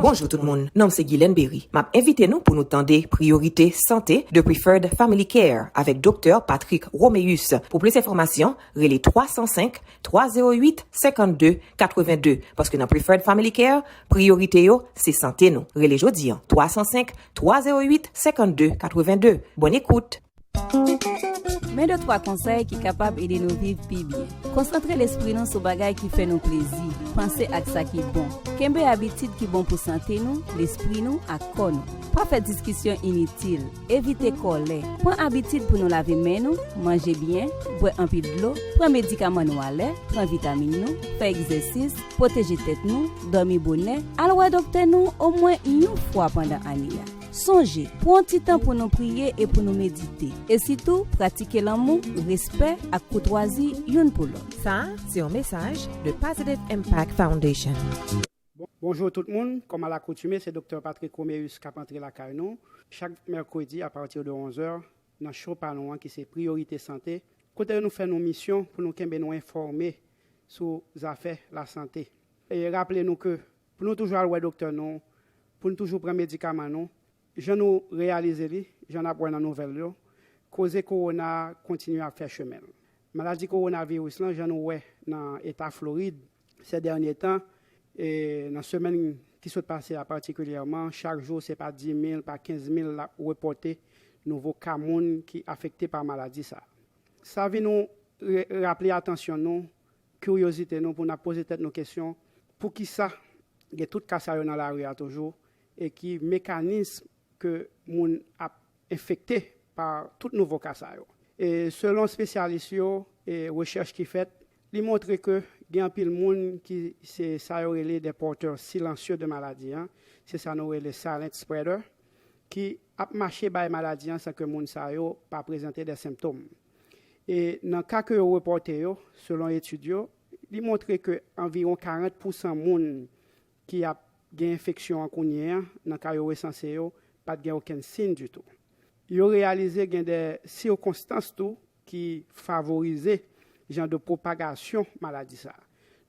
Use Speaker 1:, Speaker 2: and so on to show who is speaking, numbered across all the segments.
Speaker 1: Bonjou tout moun, non m se Guylaine Berry. M ap envite nou pou nou tande Priyorite Sante de Preferred Family Care avèk Doktè Patrick Roméus. Pou plis enfòmasyon, Rele 305 308 52 82 paske nan Preferred Family Care, priyorite yo se sante nou. Rele jodi an 305 308 52 82. Bòn ekout!
Speaker 2: Men de twa konsèy ki kapab ede nou viv pi byen. Konsantre lespri nou sou bagay ki fè nou plezi, panse ak sa ki bon. Kenbe abitid ki bon pou sante nou, lespri nou, ak kò nou. Pa fè diskisyon initil. Evite kòlè. Pran abitid pou nou lave men nou, manje byen, bwè anpil dlo, pran medikaman nou alè, pran vitamin nou, fè egzèsis, pwoteje tèt nou, dòmi bonè, al wè doktè nou omwen yon fwa pandan ane a. Sonje, pran ti tan pou nou priye e pou nou medite. E sitou, pratike lanmou, respè, ak koutwazi youn pou lòt. Sa a se yon mesaj
Speaker 1: de Positive Impact Foundation. Bonjour
Speaker 3: tout moun, kòm a lakoutime se Doktè Patrick Roméus kap antre lakay nou chak mèkredi a partir de 11 heures nan show pa nou an ki se Priorité Santé kote nou fè nou misyon pou nou kenbe nou enfòme sou zafè la sante. Raple nou ke pou nou toujou al wè doktè nou, pou nou toujou pran medikaman nou jan nou reyalize li, jan nap wè nan nouvèl yo koze kowona a kontinye ap fè chemenl. Maladi kowona viris lan jan nou wè nan eta Floride, Sè dènye tan, e nan semèn ki sot pase a patikilyèman, chak jou se pa dimil, pa kenzmil l ap repòte nouvo ka moun ki afekte pa maladi sa a. Sa vin yon raple atansyon nou, kiryozite nou pou n ap poze tèt nou kesyon, poukisa gen tout ka sa yo nan lari a toujou e ki mekanism ke moun ap enfekte pa tout nouvo ka sa yo. E selon spesyalis yo e rechèch ki fèt, li montre ke gen anpil moun ki se sa yo rele des porteurs silencieux de maladie an, se sa nou rele silent spreader, ki ap mache bay maladi an san ke moun sa yo pa prezante de senptom. E nan ka ke yo repòte yo, selon etid yo, li montre ke anviwon 40 pousan moun ki ap gen enfeksyon an kounye a, nan ka yo resanse yo, pa t gen okenn siyn ditou. Yo reyalize gen de sikonstans tou ki favorize jan de pwopagasyon maladi sa.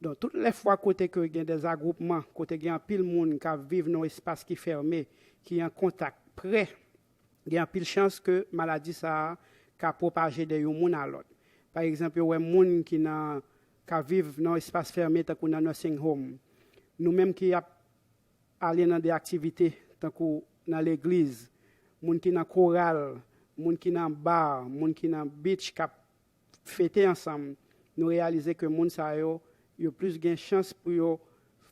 Speaker 3: Donk tout lè fwa kote ke gen de zagwoupman, kote gen anpil moun k ap viv nan yon espas ki fème, ki an kontak pre, gen anpil chans ke maladi sa ka pwopaje de yon moun a lòt. Pa egzanp yo wè moun ki nan ka viv nan espas fèmen tankou nan nursing home, nou menm ki ap ale nan de aktivite tankou nan legliz, moun ki nan koral, moun ki nan bar, moun ki nan beach k ap fete ansanm, nou reyalize ke moun sa yo, yo plis gen chans pou yo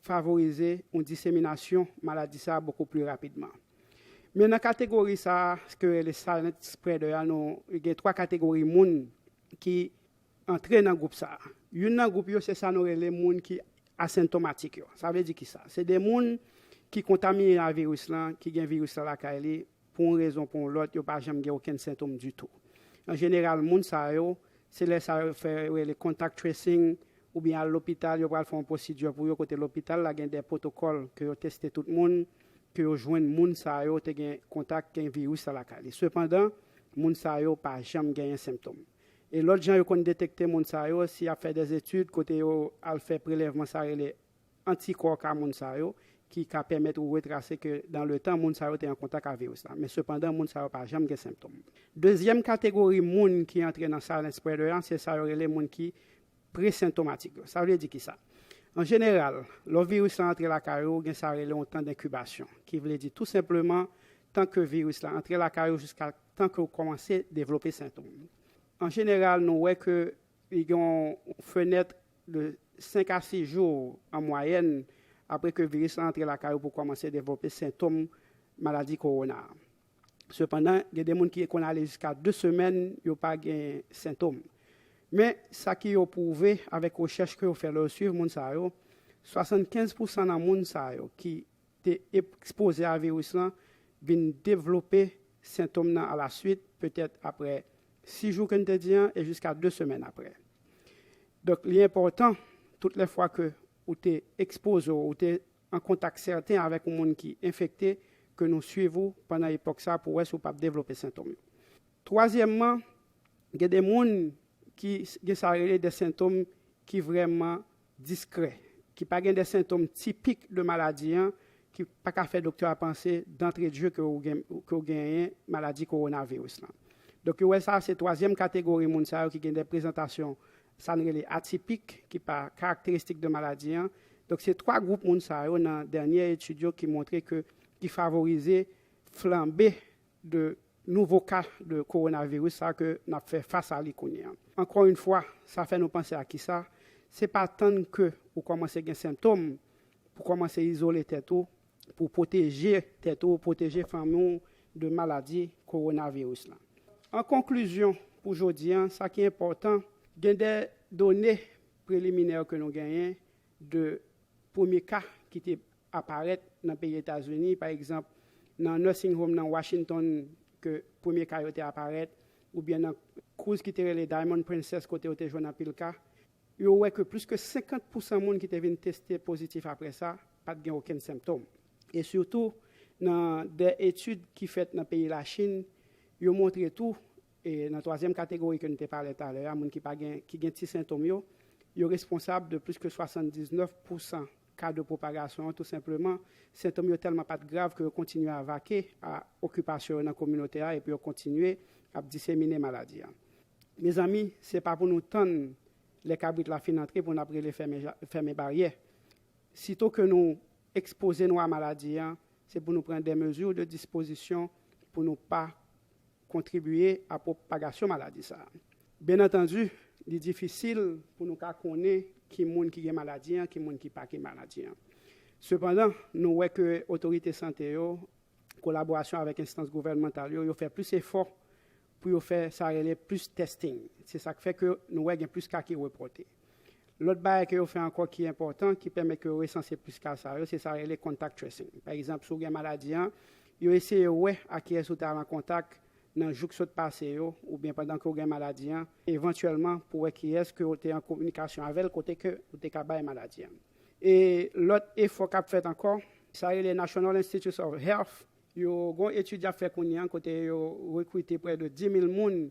Speaker 3: favorize yon diseminasyon maladi sa bokou pli rapidman. Men nan kategori sa a ke yo rele silent spreader a nou gen 3 kategori moun ki Antre nan gwoup sa a. Youn nan gwoup yo se sa nou rele moun ki asentomatik yo. Sa vle di ki sa? Se de moun ki kontamine a viris lan, ki gen viris lan lakay li, pou yon rezon pou yon lòt, yo pa janm gen okenn sentom ditou. An jeneral moun sa yo, se lè sa yo fè yo rele contact tracing oubyen al lopital, yo pral fè yon pwosidye pou yo kote lopital la gen de pwotokòl ke yo teste tout moun, ke yo jwenn moun sa yo te gen kontak, gen viris lan lakay li. Sepandan, moun sa yo pa janm genyen sentom. E lòt jan yo konn detekte moun sa yo, se y ap fè dè etid kote yo al fè prelèvman sa rele antikò ka moun sa yo, ki ka pèmèt ou retrase ke dan le tan moun sa yo te an kontak a viris la. Men sepandan moun sa yo pa janm gen senptom. Dezyèm kategori moun ki antre nan silent spreader an, se sa yo rele moun ki presentomatik yo. Sa vle di kisa? An jeneral, lò viris la antre lakay ou, gen sa rele yon tan denkibasyon, ki vle di tou senpleman tan ke viris la antre lakay ou jiska Tan ke ou kòmanse devlope sentom. An jeneral nou wè ke li gen yon fenèt de 5 a 6 jou an mwayèn apre ke viris lan antre lakay ou pou kòmanse devlope sentom maladi kowona a. Sepandan, gen de moun ki konn ale jiska 2 semèn yo pa gen sentom. Men, sa ki yo pwouve avèk rechèch ke yo fè lè yo swiv moun sa yo, 75 pousan nan moun sa yo ki te epkzpoze a viris lan vin devlope sentom nan alaswit, petèt aprè 6 jou ke n te di an e jiska 2 semèn aprè. Donk li enpòtan tout lè fwa ke ou te ekspoze w, ou te an kontak sèten avèk yon moun ki enfekte ke nou swiv ou pandan epòk sa pou wè si w pap devlope sentom yo. Twazyèmman, gen de moun ki gen sa rele de sentom ki vrèman diskrè, ki pa gen de sentom tipik de maladi an ki pa ka fè doktè a panse dantre dje ke ou gen ke ou genyen maladi kowonaviris lan. Donk yo wè sa se twazyèm kategori moun sa yo ki gen de prezantasyon sa n rele atipik ki pa karakteristik de maladi an. Donk se twa gwoup moun sa yo nan dènyè etid yo ki montre ke ki favorize flanbe de nouvo ka de kowonaviris sa ke n ap fè fas a li kounye an. Ankò yn fwa, sa fè nou panse a kisa, se pa tann ke ou kòmanse gen sentom pou kòmanse izole tèt ou pou pwoteje tèt ou, pwoteje fanmi w de maladi kowonaviris lan. An konklizyon pou jodi an, sa ki enpòtan, gen de done preliminè ke nou genyen de premye ka ki te a parèt nan peyi Etazini, pa egzanp, nan nursing home nan Washington ke premye ka yo te aparèt, oubyen nan cruise ki te rele Diamond Princess kote yo te jwenn anpil ka, yo wè ke plis ke 50 pousan moun ki te vin teste pozitif apre sa, pa t gen okenn senptom. E sitou, nan de etid ki fèt nan peyi Lachin, yo montre tou, e nan twazyèm kategori ke n te pale talè a, moun ki pa gen, ki gen ti sentom yo, yo responsab de plis ke 79 pousan Kado pwopagasyon an tou senpleman. Sentom yo tèlman pa t grav ke yo kontinye avake a okipasyon yo nan kominote a epi yo kontinye ap disemine maladi a. Mezanmi, se pa pou nou tann lè kabrit la fin antre pou n ap rele fèmen fèmen baryè. Sito ke nou ekspoze nou a maladi a, se pou nou pran dè mezi de dispozisyon pou nou pa kontribye a pwopagasyon maladi sa a. Byen antandi, li difisil pou nou ka konnen ki moun ki gen maladi an, ki moun ki pa gen maladi an. Sepandan, nou wè ke otorite sante yo, kolaborasyon avèk enstans gouvènmantal yo, yo fè plis efò pou yo fè sa rele plis testing. Se sa k fè ke nou wè gen plis ka ki repòte. Lòt bagay ke yo fè ankò ki enpòtan, ki pèmèt ke yo resanse plis ka sa yo, se sa yo rele contact tracing. Pa egzanp, si w gen maladi an, yo eseye wè ak kiyès ou te al an kontak nan jou k sot pase yo, oubyen pandan ke w gen maladi an, evantyèlman pou wè kiyès ke w te an kominikasyon avè l kote ke ou te ka bay maladi an. E lòt efò k ap fèt ankò, sa yo rele National Institutes of Health, yo gen yon etid y ap fè kounye an kote yo rekrite prè de 10 mil moun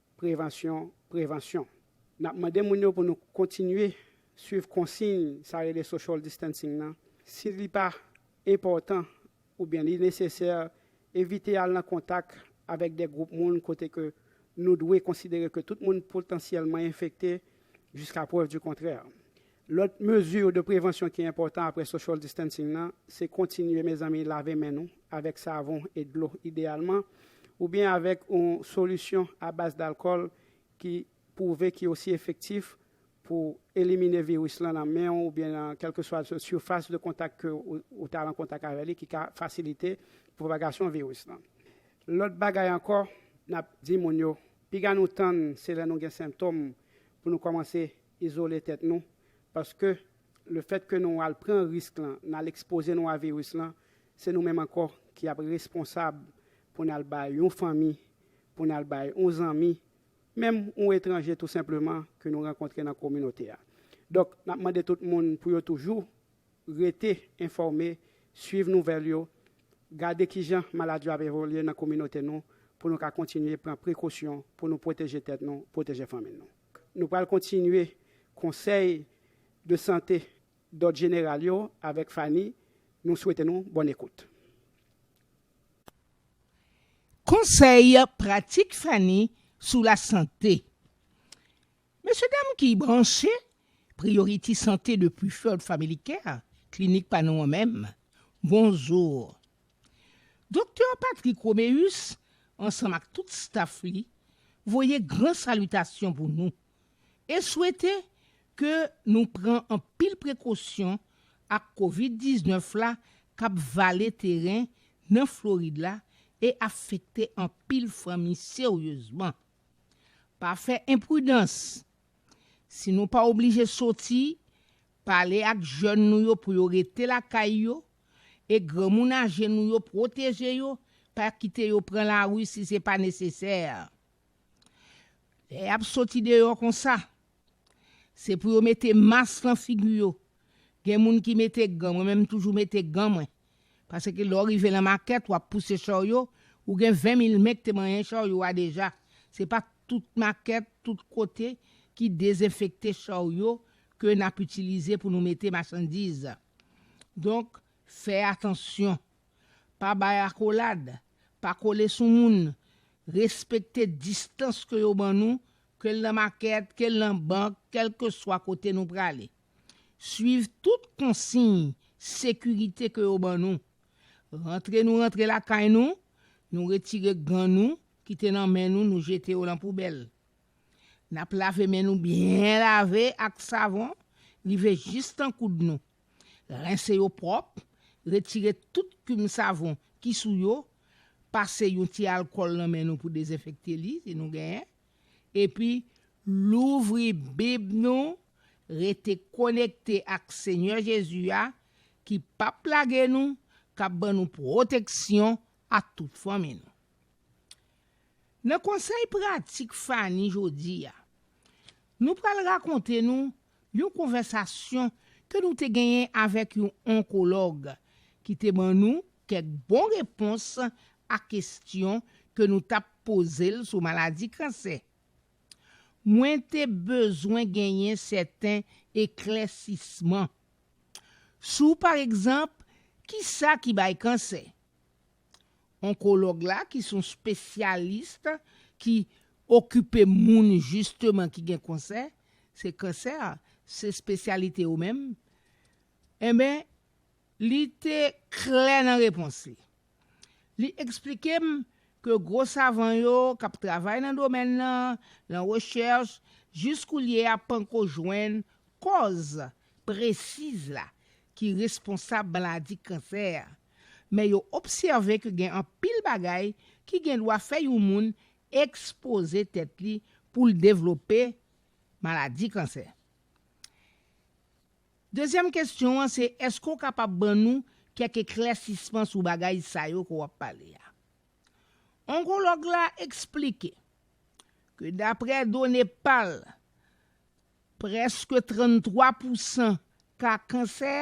Speaker 3: Prevansyon, prevansyon. N ap mande moun yo pou nou kontinye swiv konsiy sa rele social distancing nan. Si li pa enpòtan oubyen li nesesè, evite al nan kontak avèk de gwoup moun kote ke nou dwe konsidere ke tout moun potansyèlman enfekte jiska prèv di kontrè. Lòt mezi de prevansyon ki enpòtan apre social distancing nan, se kontinye mezanmi lave men nou avèk savon e dlo ideyalman, oubyen avèk yon solisyon a baz dalkòl ki pwouve ki osi efektif pou elimine viris lan nan men w oubyen nan kèlkeswa sifas de kontak ke ou ta al an kontak avè li ki ka fasilite pwopagasyon viris lan. Lòt bagay ankò n ap di moun yo, piga nou tann se lè nou gen senptòm pou nou kòmanse izole tèt nou paske le fèt ke nou al pran risk lan nal ekspoze nou a virus lan se nou menm ankò ki ap responsab pou nal bay yon fanmi pou nal bay yon zanmi menm yon etranje tou senpleman ke nou rankontre nan kominote a donk nap mande tout moun pou yo toujou rete enfòme swiv nouvèl yo gade kijan maladi yo ap evolye nan kominote nou pou nou ka kontinye pran prekosyon pou nou pwoteje tèt nou pwoteje fanmi nou. Nou pral kontinye konsèy de sante dòd jeneral yo avèk Fanny, nou swete nou bòn ekout.
Speaker 4: Konsèy pratik Fanny sou lasante. Mesye dam ki branche Priority Santé de Preferred Family Care, klinik pa nou an menm, bonjour. Doktè Patrick Roméus ansanm ak tout staf li voye gran salitasyon pou nou e swete ke nou pran anpil prekosyon ak Covid 19 la kap vale teren nan Florid la e afekte anpil fanmi seryezman. Pa fè enpridans. Si nou pa oblije soti, Pale ak jèn nou yo pou yo rete lakay yo e granmoun aje nou yo pwoteje yo, pa kite yo pran lari si se pa nesesè. Lè y ap soti deyò konsa, se pou yo mete mas nan figi yo. Gen moun ki mete gan, mwen menm m toujou mete gan mwen. Paske lè w rive lan makèt wap pouse charyo ou gen 20 mil men k te manyen charyo a deja se pa tout makèt tout kote ki dezenfekte charyo ke nap itilize pou nou mete machandiz donk fè atansyon pa bay akolad pa kole sou moun respekte distans ke yo ban nou kel nan makèt kel nan bank kelkeswa kote nou prale. Swiv tout konsiy sekirite ke yo ban nou. Rantre nou rantre lakay nou, nou retire gan nou ki te nan men nou, nou jete yo lan poubèl. Nap lave men nou byen lave ak savon rive jis tan koud nou. Rense yo pwòp, retire tout kim savon ki sou yo, pase yon ti alkòl nan men nou pou dezenfekte li si nou genyen, epi louvri Bib nou, rete konekte ak Senyè Jezi a ki pap lage nou, k ap ban nou pwoteksyon ak tout fanmi nou. Nan konsèy pratik Fanny jodi a, nou pral rakonte nou yon konvèsasyon ke nou te genyen avèk yon onkològ ki te ban nou Kèk bon repons a kestyon ke nou tap poze l sou maladi kansè. Mwen te bezwen genyen sèten eklèsisman sou pa egzanp kisa ki bay kansè. Onkològ la ki son spesyalis ki okipe moun jisteman ki gen konsè, se kansè se spesyalite yo menm, enben, Li te klè nan repons li. Li eksplike m ke gwo savan yo k ap travay nan domèn lan, lan rechèch, jis koulye a panko jwenn kòz presiz la ki responsab maladi kansè a. Men yo obsève ke gen anpil bagay ki gen dwa fè yon moun ekspoze tèt li pou l devlope maladi kansè. Dezyèm kesyon an se èske ou kapab ban nou kèk eklèsisman sou bagay sa yo ke w ap pale a? Onkològ la eksplike ke daprè done pa l, prèske 33 pousan ka kansè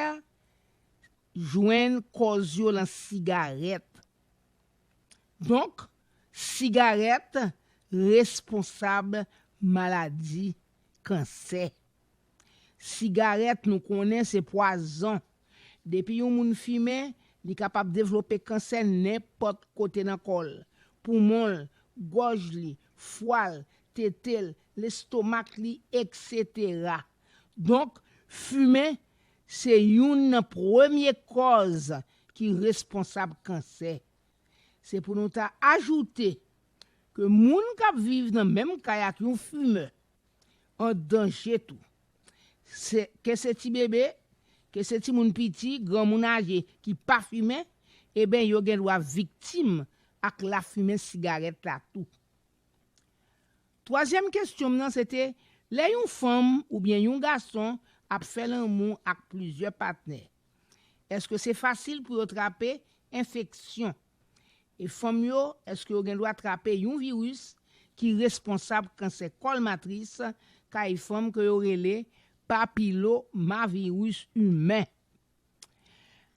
Speaker 4: jwenn kòz yo lan sigarèt. Donk, sigarèt responsab maladi kansè. Sigarèt nou konnen se pwazon. Depi yon moun fimen, li kapab devlope kansè nenpòt kote nan kò l, poumon l, gòj li, fwa l, tete l, lestomak li, eksetera. Donk, fimen se youn nan premye kòz ki responsab kansè. Se pou nou ta ajoute ke moun k ap viv nan menm kay ak yon fimè, an danje tou. Se ke se ti bebe, ke se timoun piti, granmoun aje ki pa fimen, eben yo gen dwa viktim ak lafimen sigarèt la tou. Twazyèm kestyon m nan se te, lè yon fanm oubyen yon gason ap fè lanmou ak plizyè patnè, eske se fasil pou yo trape enfeksyon? E fanm yo, èske yo gen dwa trape yon viris ki responsab kansè kòl matris kay fanm ke yo rele papilomaviris imen?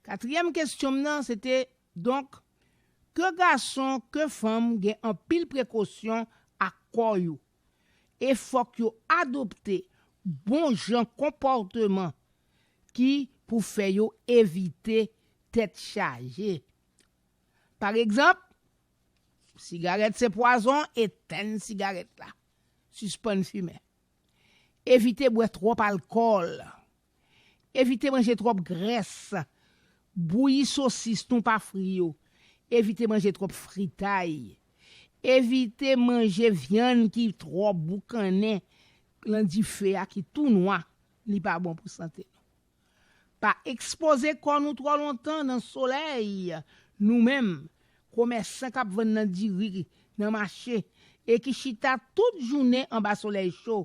Speaker 4: Katriyèm kestyon m nan se te, donk, ke gason ke fanm gen anpil prekosyon ak kò yo, e fòk yo adopte bon jan konpòteman ki pou fè yo evite tèt chaje. Paregzanp, Sigarèt se pwazon, etenn sigarèt la. Sispann fimen. Evite bwè twòp alkòl. Evite manje twòp grès. Bouyi sosis, thon pa fri yo. Evite manje twòp fritay. Evite manje vyann ki twò boukannen lan dife a ki tou nwa, li pa bon pou sante nou. Pa ekspoze kò nou twò lontan nan solèy nou menm komèsan kap vann nan diri nan mache e ki chita tout jounen anba solèy cho,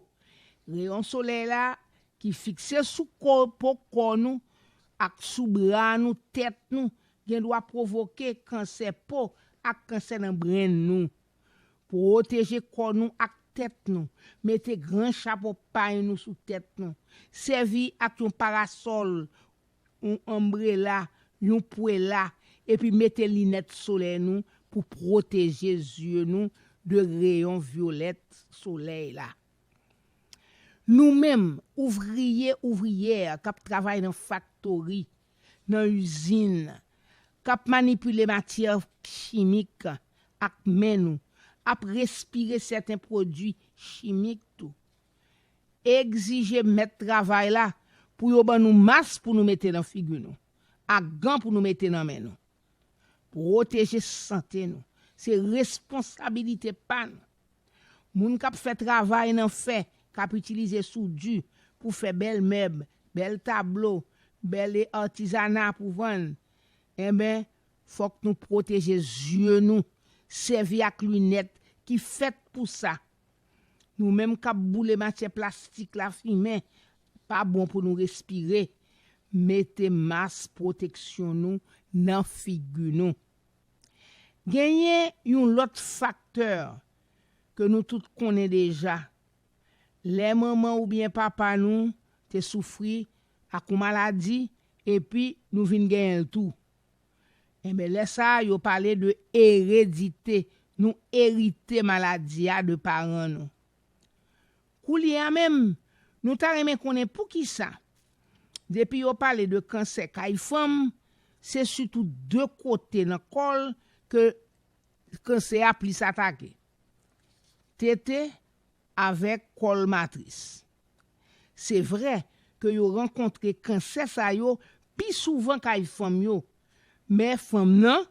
Speaker 4: reyon solèy la ki fikse sou ko po kò nou ak sou bra nou tèt nou gendwa pwovoke kansè po ak kansè nan brenn nou. Pwoteje kò nou ak tèt nou, mete gran chapo pay nou sou tèt nou, sèvi ak yon parasòl, yon anbrela, yon pwela, epi mete linèt solèy nou pou pwoteje zye nou de reyon vyolèt solèy la. Nou menm, ouvriye, ouvriyè k ap travay nan faktori, nan izin k ap manipile matyè chimik ak men nou ap respire sèten pwodui chimik tou. Egzije mèt travay la pou yo ban nou mas pou nou mete nan figi nou ak gan pou nou mete nan men nou. Pwoteje sante nou se responsabilite pa nou. Moun k ap fè travay nan fè, k ap itilize soudi pou fè bèl mèb, bèl tablo, bèl artisanat pou vann, enben, fòk nou pwoteje zye nou, sèvi ak linèt ki fèt pou sa, Nou menm kap boule matyè plastik la fimen pa bon pou nou respire mete mas pwoteksyon nou nan figi nou. Genyen yon lòt faktè ke nou tout konnen deja lè manman oubyen papa nou te soufri ak yon maladi epi nou vin genyenl tou. Enben lè sa a yo pale de eredite, nou erite maladi a de paran nou. Koulye a menm, nou ta renmen konnen poukisa, depi yo pale de kansè kay fanm, se sitou de kote nan kò l ke kansè a plis atake, tete avèk kòl matris. Se vre ke yo rankontre kansè sa yo pi souvan kay fanm yo, men fanm nan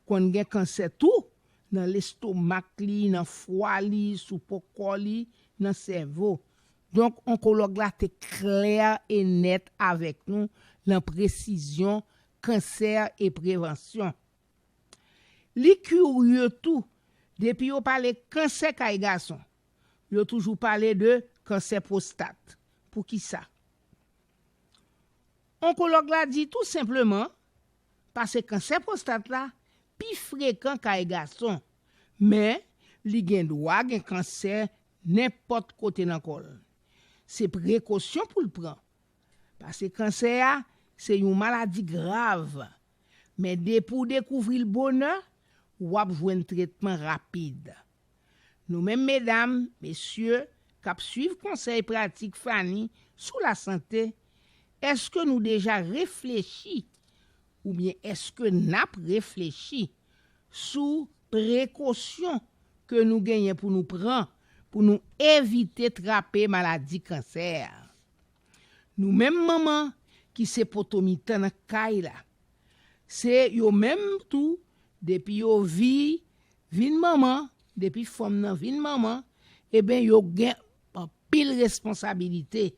Speaker 4: konn gen kansè tou nan lestomak li, nan fwa li, sou po kò li, nan sèvo. Donk onkològ la te klè e nèt avèk nou lan presizyon kansè e prevansyon. Li kurye tou, depi yo pale kansè kay gason, Yo toujou pale de kansè pwostat. Poukisa? Onkològ la di tou senpleman pase kansè pwostat la pi frekan kay gason, men li gen dwa gen kansè nenpòt kote nan kò l. Se prekosyon pou l pran, pase kansè a se yon maladi grav, men depi w dekouvri l bonè, w ap jwenn tretman rapid. Nou menm medam, mesye, k ap suiv konsèy pratik Fanny sou lasante, èske nou deja reflechi oubyen èske n ap reflechi sou prekosyon ke nou genyen pou nou pran pou nou evite trape maladi kansè a? Nou menm manman ki se poto mitan nan kay la. Se yo menm tou depi yo vi vin manman, depi fanm nan vin manman, eben yo gen anpil responsabilite.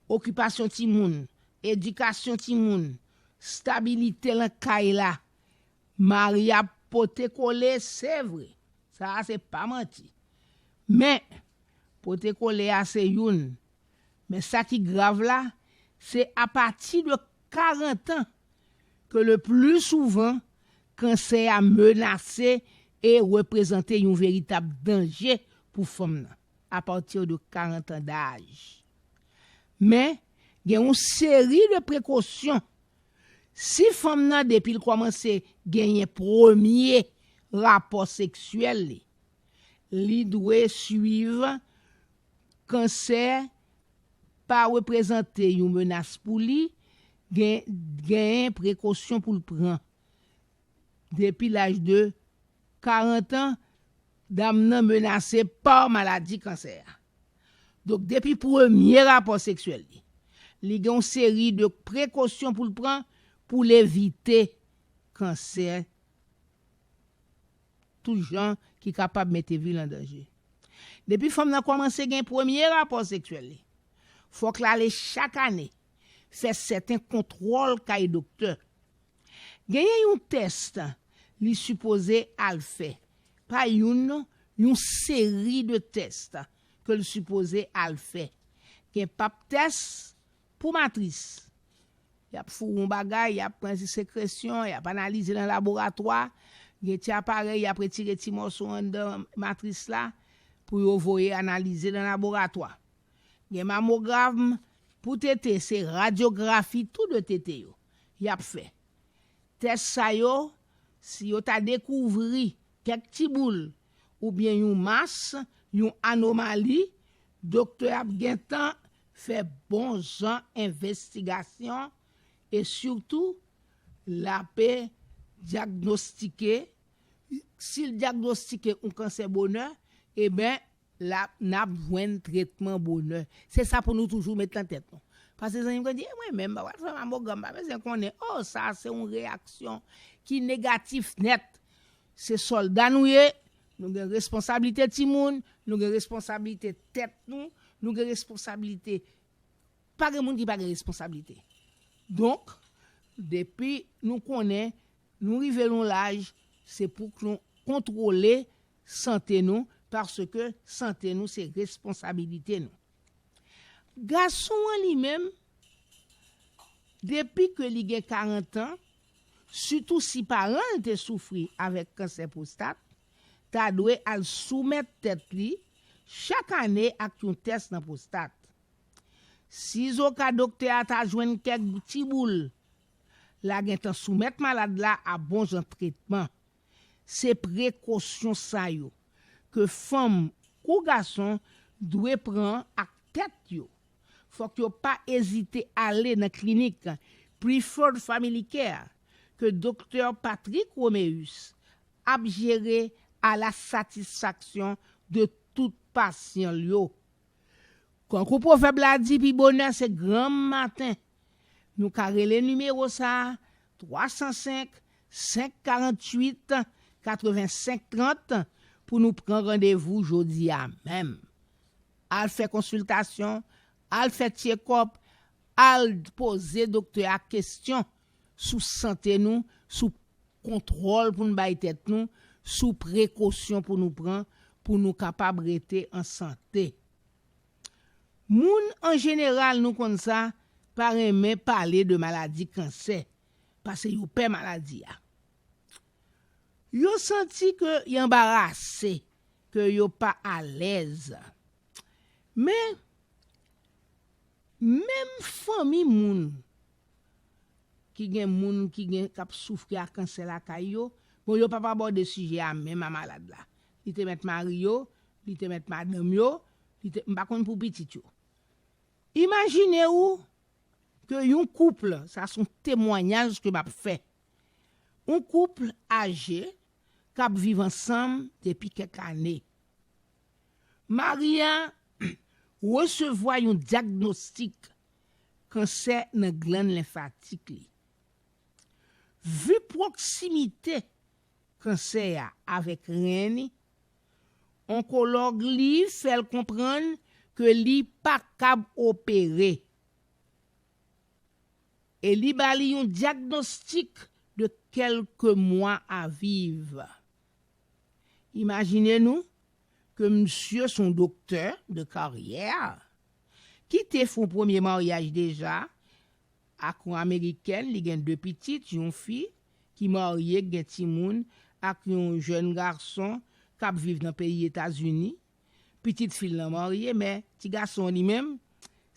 Speaker 4: Okipasyon timoun, edikasyon timoun, stabilite lan kay la. Mari ap pote kole se vre, sa a se pa manti. Men, pote kole a se youn. Men sa ki grav la, se apati de 40 an ke le pli souvan kansè a menase e reprezante yon veritab danje pou fanm nan, a partir de 40 ans d'âge. Men, gen yon seri de prekosyon. Si fanm nan depi l kòmanse genyen premye rapò seksyèl li, li dwe swiv kansè pa reprezante yon menas pou li, gen genyen prekosyon pou l pran. Depi laj de 40 an, dam nan menase pa maladi kansè a. Donk depi premye rapò seksyèl li, li gen yon seri de prekosyon pou l pran pou l evite kansè tout jan ki kapab mete vi l an danje. Depi fanm nan kòmanse gen premye rapò seksyèl li, fòk l ale chak ane fè sèten kontwòl kay doktè. Genyen yon tès li sipoze al fè, pa youn non, yon seri de tès ke l sipoze al fè. Gen pap tès Pou matris, y ap foure yon bagay, y ap pran sekresyon, y ap analize nan laboratwa, gen ti aparèy y ap retire ti mòso anndan matris la pou yo voye analize nan laboratwa. Gen mamogramn pou tete, se radyografi tou de tete yo y ap fè. Tès sa yo, si yo ta dekouvri kèk ti boul oubyen yon mas, yon anomali, doktè ap gentan fè bon jan envestigasyon e sitou l ape dyagnostike, si l dyagnostike yon kansè bonè eben l ap n ap jwenn tretman bonè se sa pou nou toujou met nan tèt nou pase zanmi m konn di e mwen menm m pa pral fè mamogram m pa bezwen konnen oh sa se yon reyaksyon ki negatif nèt Se sòlda nou ye, nou gen responsablite timoun, nou gen responsablite tèt nou, nou gen responsablite, pa gen moun ki pa gen responsablite. Donk, depi nou konnen nou rive yon laj, se pou k nou kontwole sante nou, paske sante nou se responsabilite nou. Gason an li menm, depi ke li gen 40 an, sitou si paran l te soufri avèk kansè pwostat, ta dwe al soumèt tèt li chak ane ak yon tès nan pwostat. Sizoka doktè a ta jwenn kèk ti boul, la gentan soumèt malad la a bonjan tretman. Se prekosyon sa yo ke fanm kou gason dwe pran ak tèt yo. Fòk yo pa ezite ale nan klinik Preferred Family Care ke Doktè Patrick Roméus ap jere a la satisfaksyon de tout pasyan l yo. Kankou pwovèb la di pi bonè se granm maten. Nou ka rele nimewo sa a 305 548 85 30 pou nou pran randevou jodi a menm. Al fè konsiltasyon, al fè tyekòp, al poze doktè a kesyon sou sante nou, sou kontwòl pou n bay tèt nou, sou prekosyon pou nou pran pou nou kapab rete an sante. Moun an jeneral nou konn sa pa renmen pale de maladi kansè pase yo pè maladi a. Yo santi ke y anbarase, ke yo pa alèz. Men, menm fanmi moun ki gen moun ki gen k ap soufri ak kansè lakay yo, bon yo p ap abòde sijè a menm a malad la. Li te met mari yo, li te met madanm yo, li te, m pa konn pou pitit yo. Imajine ou ke yon couple, sa son temwanyaj ke map fè, yon couple aje kap viv ansanm depi kèk ane. Mari a resevwa yon dyagnostik kansè nan glann lenfatik li. Vu pwoksimite kansè a avèk ren li, onkològ li fè l konprann ke li pa kab opere e li ba li yon dyagnostik de kèlke mwa a viv. Imajine nou ke misye s on doktè de karyè ki te fè yon premye maryaj deja Ak yon amerikèn, li gen 2 pitit, yon fi ki marye k gen timoun ak yon jèn gason kap viv nan peyi Etazini. Pitit fi l lan marye men ti gason an li menm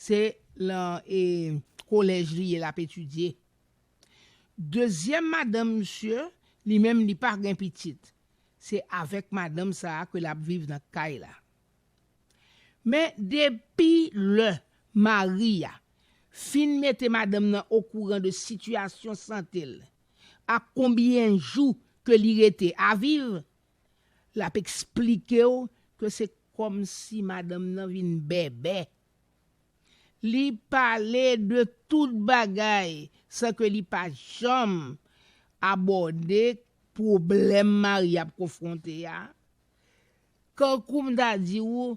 Speaker 4: se lan e kolèj li ye lap etidye. Dezyèm madanm misye li menm li pa gen pitit se avèk madanm sa ke lap viv nan kay la. Men depi lè mari a fin mete madanm nan okouran de sitiyasyon sante l ak konbyen jou ke li rete a viv, l ap eksplike w ke se kòmsi madanm nan vin bèbè. Li pale de tout bagay san ke li pa janm abòde pwoblèm mari a ap konfwonte a, Kankou m ta di ou,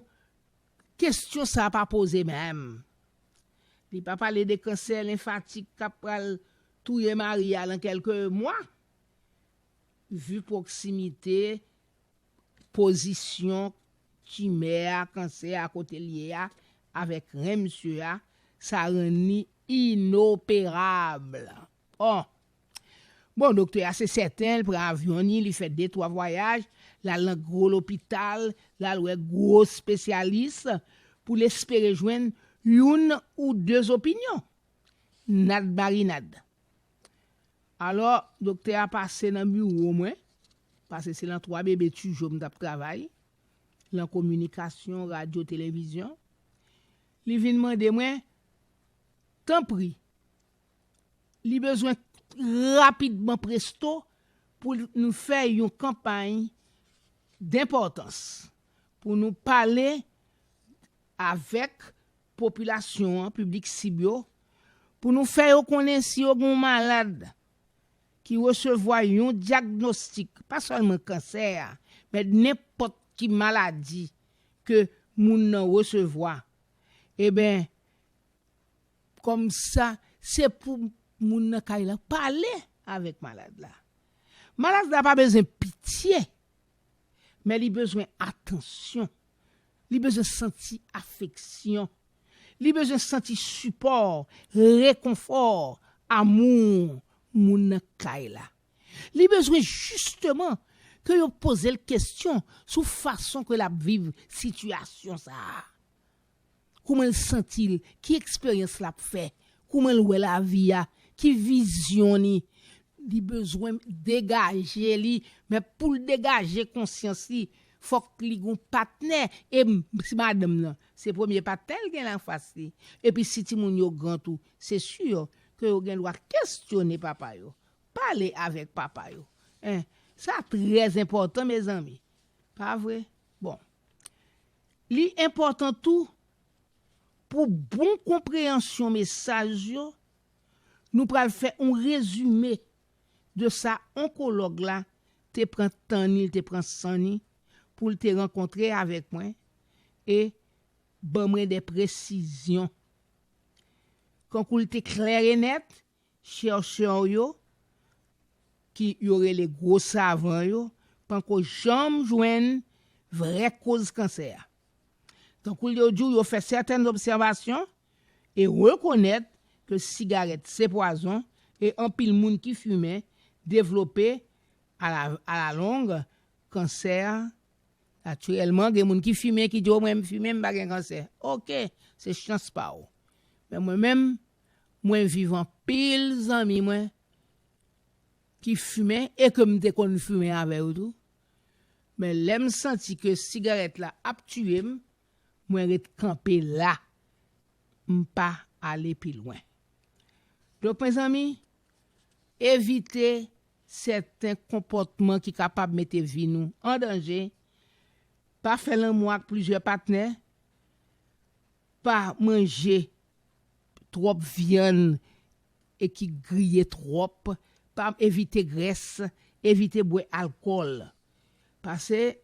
Speaker 4: kestyon sa pa poze menm. Li pa pale de kansè lenfatik kap pral touye mari a lan kelke mwa. Vu pwoksimite, pozisyon timè a, kansè a kote l ye a avèk ren msye a, sa rann li inoperabl. Oh! Bon, doktè a se sèten l pran avyon ni li fè de twa vwayaj, l al nan gwo lopital, l al wè gwo spesyalis pou l espere jwenn youn ou de zopinyon. Nad marinad. Alò, doktè a pase nan biwo mwen, pase se lan twa bebe tijo m t ap travay, lan kominikasyon, radyo, televizyon, li vin mande mwen, Tanpri, Li bezwen rapidman presto pou nou fè yon kanpay denpòtans pou nou pale avèk popilasyon an, piblik sib yo, pou nou fè yo konnen si yo gen yon malad ki resevwa yon dyagnostik, pa sèlman kansè a, men nenpòt ki maladi ke moun nan resevwa, eben, Komsa se pou moun nan kay la pale avèk malad la. Malad la pa bezwen pitye, men li bezwen atansyon, li bezwen santi afeksyon, li bezwen santi sipò, rekonfò, amou moun nan kay la. Li bezwen jisteman ke yo poze l kesyon sou fason ke l ap viv sitiyasyon sa a. kouman l santi l, ki eksperyans l ap fè, kouman l wè lavi a, ki vizyon li. Li bezwen degaje li, men pou l degaje konsyans li, fòk li gen yon patnè. E si madanm nan, se premye patnè l genyen anfas li, epi si timoun yo gran tou, se si ke yo gen dwa kesyone papa yo, pale avèk papa yo. Sa trè enpòtan mezanmi, pa vre? Bon. Li enpòtan tou, pou bon konpreyansyon mesaj yo, nou pral fè on rezime de sa onkològ la te pran tan ni, l te pran san ni pou l te rankontre avèk mwen e ban mwen de presizyon. Kankou l te klè e nèt, Chercheurs yo, ki yo rele gwo savan yo, panko janm jwenn vrè koz kansè a. Tankou yo di w yo fè sèten obsèvasyon e rekonèt ke sigarèt se pwazon e anpil moun ki fimen devlope a la long kansè natirèlman gen moun ki fimen ki di w mwen m fimen m pa gen kansè ok se chans pa w men mwen menm mwen viv anpil zanmi mwen ki fimen e ke m te konn fimen avè yo tou, men lè m santi ke sigarèt la ap tiye m, mwen ret kanpe la, m pa ale pi lwen. Donk mezanmi, evite sèten konpòtman ki kapab mete vi nou an danje, pa fè lanmou ak plizyè patnè, pa manje twòp vyann e ki griye twòp, pa evite grès, evite bwè alkòl. Pase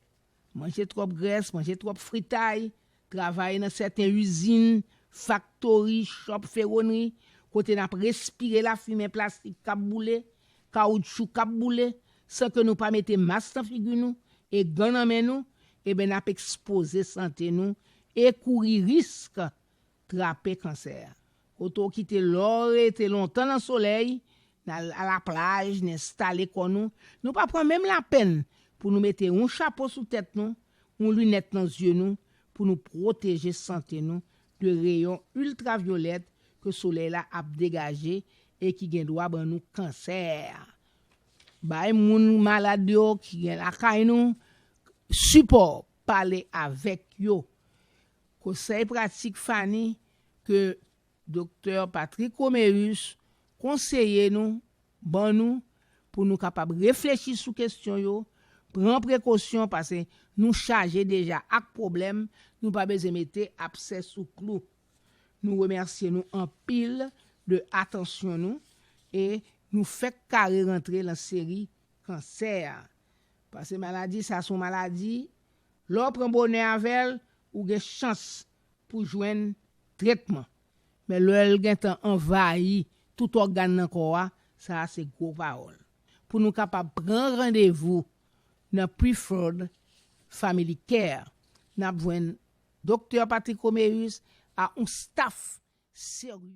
Speaker 4: manje twòp grès, manje twòp fritay, travay nan sèten izin, faktori, chòp fewonri, kote n ap respire lafimen plastik k ap boule, kawoutchou k ap boule, san ke nou pa mete mas nan figi nou e gan nan men nou, eben n ap ekspoze sante nou e kouri risk trape kansè. Kote w kite lè w rete lontan nan solèy, n al alaplaj, n enstale kò nou, nou pa pran menm lapenn pou nou mete yon chapo sou tèt nou, yon linèt nan zye nou pou nou pwoteje sante nou de reyon iltravyolèt ke solèy la ap degaje e ki gen dwa ban nou kansè. Bay moun malad yo ki gen lakay nou sipò, pale avèk yo. Kosèy pratik fani ke Doktè Patrick Roméus konseye nou, ban nou, pou nou kapab reflechi sou kestyon yo, pran prekosyon pase nou chaje deja ak pwoblèm, nou pa bezwen mete apsè sou klou. Nou remèsye nou anpil de atansyon nou e nou fèk kare rantre lan seri kansè a. Pase maladi sa son maladi Lè w pran bonè avè l, ou gen chans pou w jwenn tretman. Men lè l gen tan anvayi tout ògàn nan kò a, sa a se gwo pawòl. Pou nou kapab pran randevou nan Preferred Family Care, n ap jwenn Doktè Patrick Roméus ak yon staf serye.